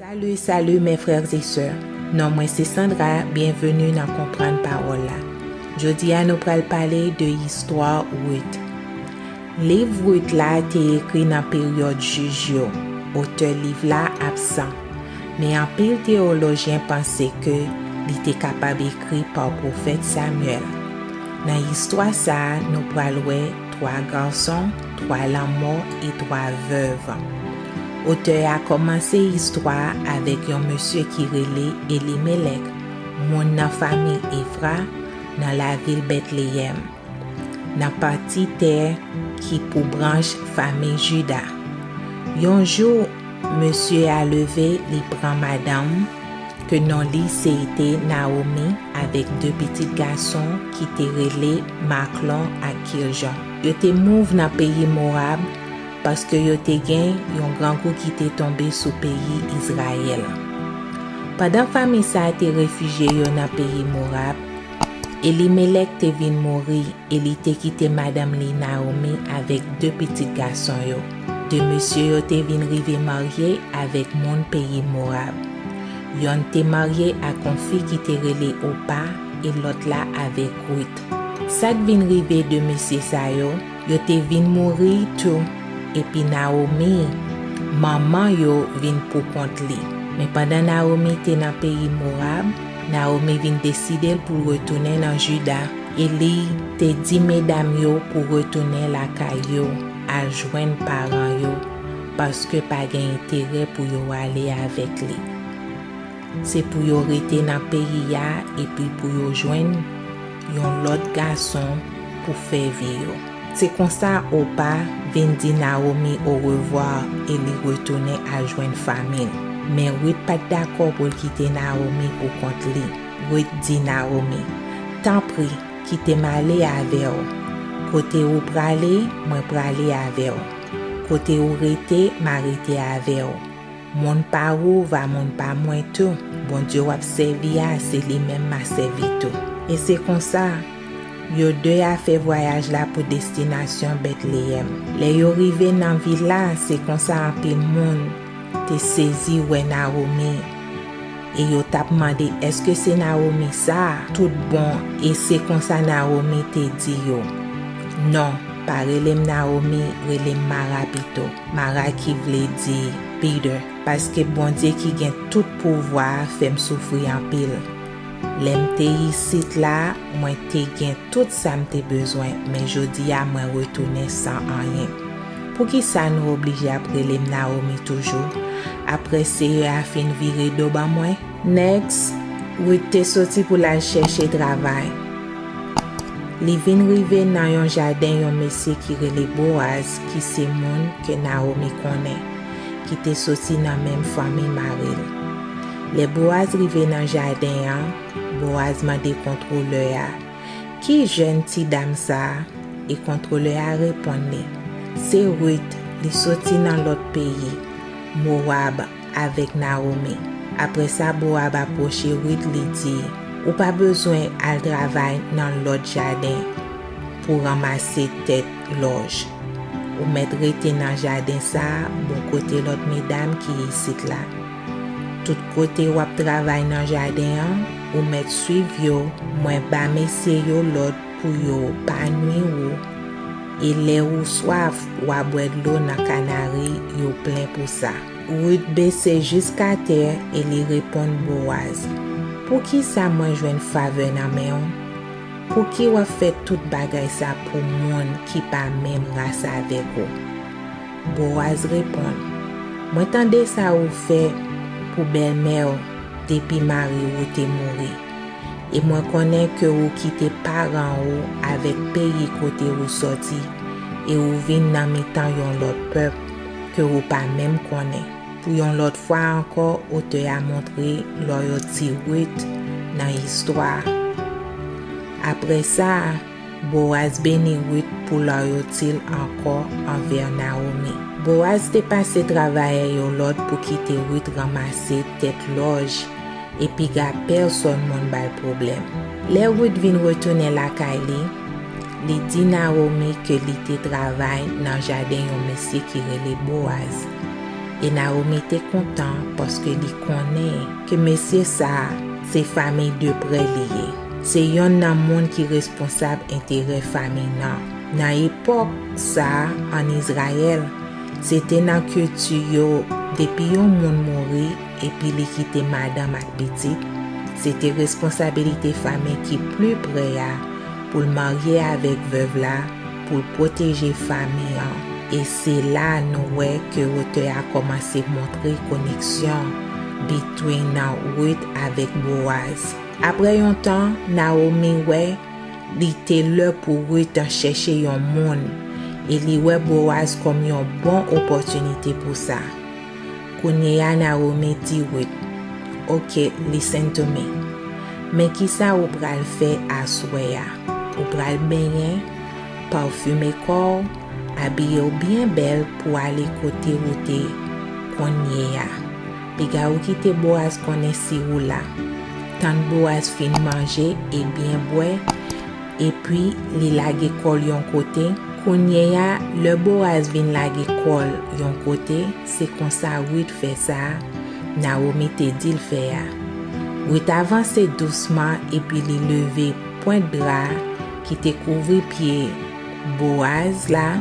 Salut salut mes frères et sœurs non mwen se Sandra bienvenue nan konprann pawòl la jodi a nou pral pale de istwa Ruth liv Ruth la te ekri nan peryòd jij yo otè liv la absan men anpil teolojyen panse ke li te kapab ekri pa pwofèt Samuel nan istwa sa nou pral wè 3 garçons 3 lanmò e 3 veuves. Otè a kòmanse istwa a avèk yon mesye ki rele Elimelèk, moun nan famiy Efra, nan lavil Betleyèm, nan pati tè ki pou branch famiy Jida. Yon jou, mesye a leve, li pran madanm, ke non li se te Nawomi, avèk de pitit gason ki te rele Maklon ak Kiljon. Yo te mouv nan peyi Mowab. Paske yo te gen yon grangou ki te tonbe sou peyi Izrayèl. Pandan fami sa a te refijye yo nan peyi Morab, Elimelèk te vin mouri e li te kite madanm li Nawomi avèk de pitit gason yo. De mesye yo te vin rive marye avèk moun peyi Morab. Yonn te marye ak yon fi ki te rele Opa e lòt la avèk Ruth. Sa k vin rive de mesye sa yo? Yo te vin mouri tou, epi Nawomi, manman yo, vin poukont li. Men pandan Nawomi te nan peyi Mowab, Nawomi vin deside l pou l retounen nan Jida, e li te di medam yo pou retounen lakay yo al jwenn paran yo, paske pa gen enterè pou yo ale avèk li. Se pou yo rete nan peyi a epi pou yo jwenn yon lòt gason pou fè vi yo. Se konsa Opa vin di Nawomi orevwa e li retounen al jwenn fanmi l. Men Rit pa t dakò pou l kite Nawomi pou kont li. Rit di Nawomi, Tanpri, kite m ale avè w. Kote ou prale, mwen prale avè w. Kote ou rete, m a rete avè w. Moun pa ou va moun pa mwen tou, Bondye wap sèvi a se li menm ma sèvi tou. E se konsa, yo de a fè vwayaj la pou destinasyon Betleyèm. Lè yo rive nan vil la, se konsa anpil moun te sezi wè Nawomi, e yo tap mande èske se Nawomi sa a tout bon, e se konsa Nawomi te di yo, Non, pa rele m Nawomi, rele m Mara pito. Mara ki vle di bitter paske Bondye ki gen tout pouvwa a fè m soufri anpil. Lè m te isit la mwen te gen tout sa m te bezwen men jodi a mwen retounen san anyen. Poukisa nou oblije ap rele m Naomi toujou apre Seyè a fin vire do ban mwen? Next, Ruth te soti pou l al chèche travay. Li vin rive nan yon jaden yon mesye ki rele Boaz ki se moun ke Nawomi konnen, ki te soti nan menm fanmi mari l. Lè Bowaz rive nan jaden an, Bowaz mande kontwolè a, Ki jèn ti dam sa a? E kontwolè a reponn li, Se Rit, li soti nan lòt peyi, Mowab. Avèk Nawomi. Apre sa, Bowab apwoche Rit, li di, Ou pa bezwen al travay nan lòt jaden pou ranmase tèt lòj. Ou mèt rete nan jaden sa a bò kote lòt medam ki isit la. Tout kote w ap travay nan jaden an, ou mèt suiv yo, mwen ba mesye yo lòd Pou yo pa nwi ou. E lè ou swaf, wa bwè dlo nan kanari yo plen pou sa. Rut bese jiskatè e li reponn Boaz, Poukisa mwen jwenn favè nan men ou? Pouki w'ap fè tout bagay sa pou moun ki pa menm ras avèk ou? Boaz reponn, Mwen tande sa ou fè pou bèlmè ou depi mari ou te mouri. e mwen konnen ke ou kite paran ou avèk peyi kote ou sòti, e ou vin nan mitan yon lòt pèp ke ou pa menm konnen. Pou yon lòt fwa ankò otè a montre lòyòlti Ruth nan istwa a. Apre sa a, Boaz beni Ruth pou lòyalti l ankò anvè Nawomi. Boaz te pase travayè yo lòd pou kite Ruth ranmase tèt lòj e piga pèsòn moun ba l pwoblèm. Lè Ruth vin retounen lakay li, li di Nawomi ke li te travay nan jaden yon mesye ki rele Boaz, e Nawomi te kontan paske li konnen ke mesye sa a se fanmiy deprè li ye. Se yonn nan moun ki responsab enterè famin nan. Nan epòk sa a ann Izrayèl, se te nan kilti yo depi yon moun mouri epi li kite madanm ak pitit, se te responsabilite famin ki pli pre a pou l marye avèk vèv la pou l pwoteje famin an. E se la nou wè ke otè a kòmanse montre koneksyon between Ruth avèk Boaz. Apre yon tan, Nawomi wè li te lè pou Rit ta chèche yon moun, e li wè Bowaz kòm yon bon opòtinite pou sa. Kounye a Nawomi di Rit, Ok, listen to me. Men kisa ou pral fè aswè a, ou pral benyen, pafime kò w, abiye w byen bèl pou ale kote ou te kounye a. Piga ou kite Boaz konnen si ou la. Tann Boaz fin manje e byen bwè, epi li lage kò l yon kote. Kounyeya, lè Boaz vin lage kò l yon kote, se konsa Ruth fè sa a Nawomi te di l fè a. Ruth avanse dousman epi li leve pwent dra ki te kouvri pye Boaz la,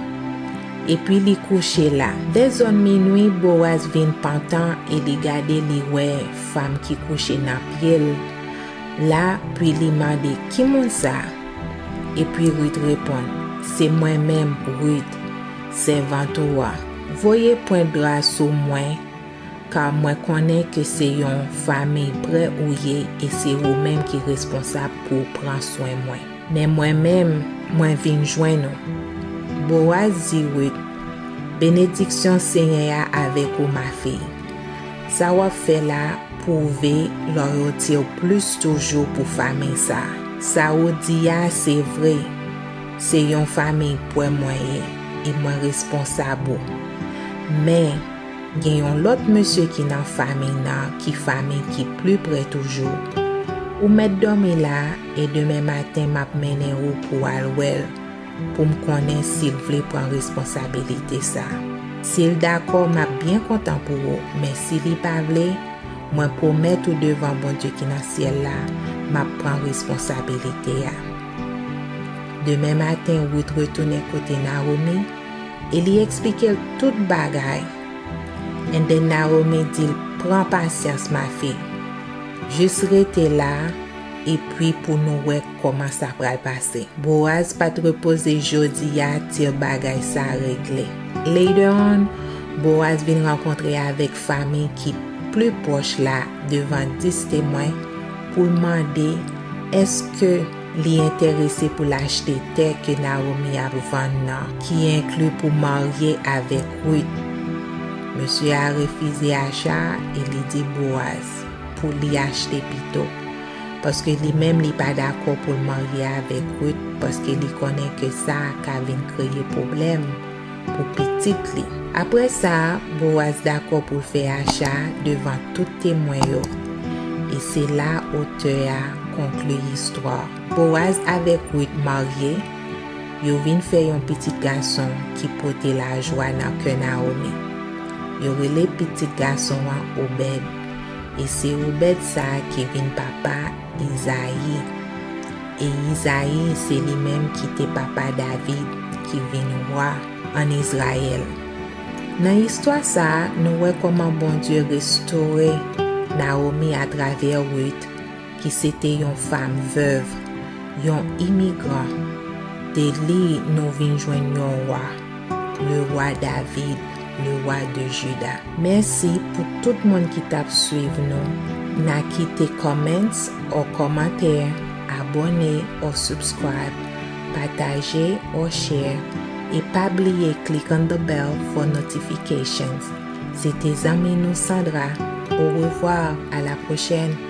epi li kouche la. Vè zòn minui, Boaz vin pantan e li gade li wè fanm ki kouche nan pye l la, pi li mande, Ki moun sa? Epi Rit reponn, Se mwen menm, Rit, sèvant ou a. Voye pwent dra sou mwen, ka mwen konnen ke se yon famiy prè ou ye e se ou menm ki responsab pou w pran swen mwen. Men mwen menm, mwen vin jwenn ou. Bowaz di Rit, Benediksyon Senyè a avèk ou, mafi. Sa w ap fè la pwouve lòyalti w plis toujou pou famiy sa a. Sa ou di a se vre, se yon famiy pwè mwen ye e mwen responsab ou. Men, gen yon lòt mesye ki nan famiy nan ki famiy ki pli prè toujou. Ou mèt dòmi la E demen maten m ap mennen ou pou w al wè l, pou m konnen si l vle pran responsabilite sa. Si l dakò, m ap byen kontan pou ou, men si li pa vle, mwen pwomèt ou devan Bondye ki nan syèl la, m ap pran responsabilite a. Demen maten, Ruth retounen kote Naomi e li eksplike l tout bagay. And then Naomi di l, Pran pasyans, ma fille. Jis rete la, Epi pou nou wè kòman sa pral pase. Boaz pa t repoze jodi a til bagay sa regle. Later on, Boaz vin rankontre avèk fanmi ki pli pwòch la devan dis temwen pou l mande èske li enterese pou l achte tè ke Nawomi ap vann nan, ki enkli pou marye avèk Ruth. Mesye a refize acha a e li di Boaz. pou li achte pito. Paske li menm li pa dakò pou l marye avèk Ruth paske li konnen ke sa ka vin kreye pwoblèm pou pitit li. Apre sa, Boaz dakò pou l fè acha a devan tout temwen yo. E se la otè a konkli istwa. Boaz avèk Ruth marye, yo vin fè yon pitit gason ki pote lajwa nan kè Naomi. Yo rele pitit gason an Obed. E se Obèd sa a ki vin papa Izayi. E Izayi, se li menm ki te papa David, ki vin wa ann Izrayèl. Nan istwa sa a, nou wè kòman Bondye restore Nawomi atravè Rit. ki se te yon fanm vèv, yon imigran, de li nou vin jwenn yon wa, le roi David, le roi de Juda. Mèsi pou tout moun ki tap swiv nou na kite comments or kòmantè, abone or subscribe, pataje or share e pa bliye click on the bell for notifications. Se te zanmi nou Sandra, au revoir à la prochaine!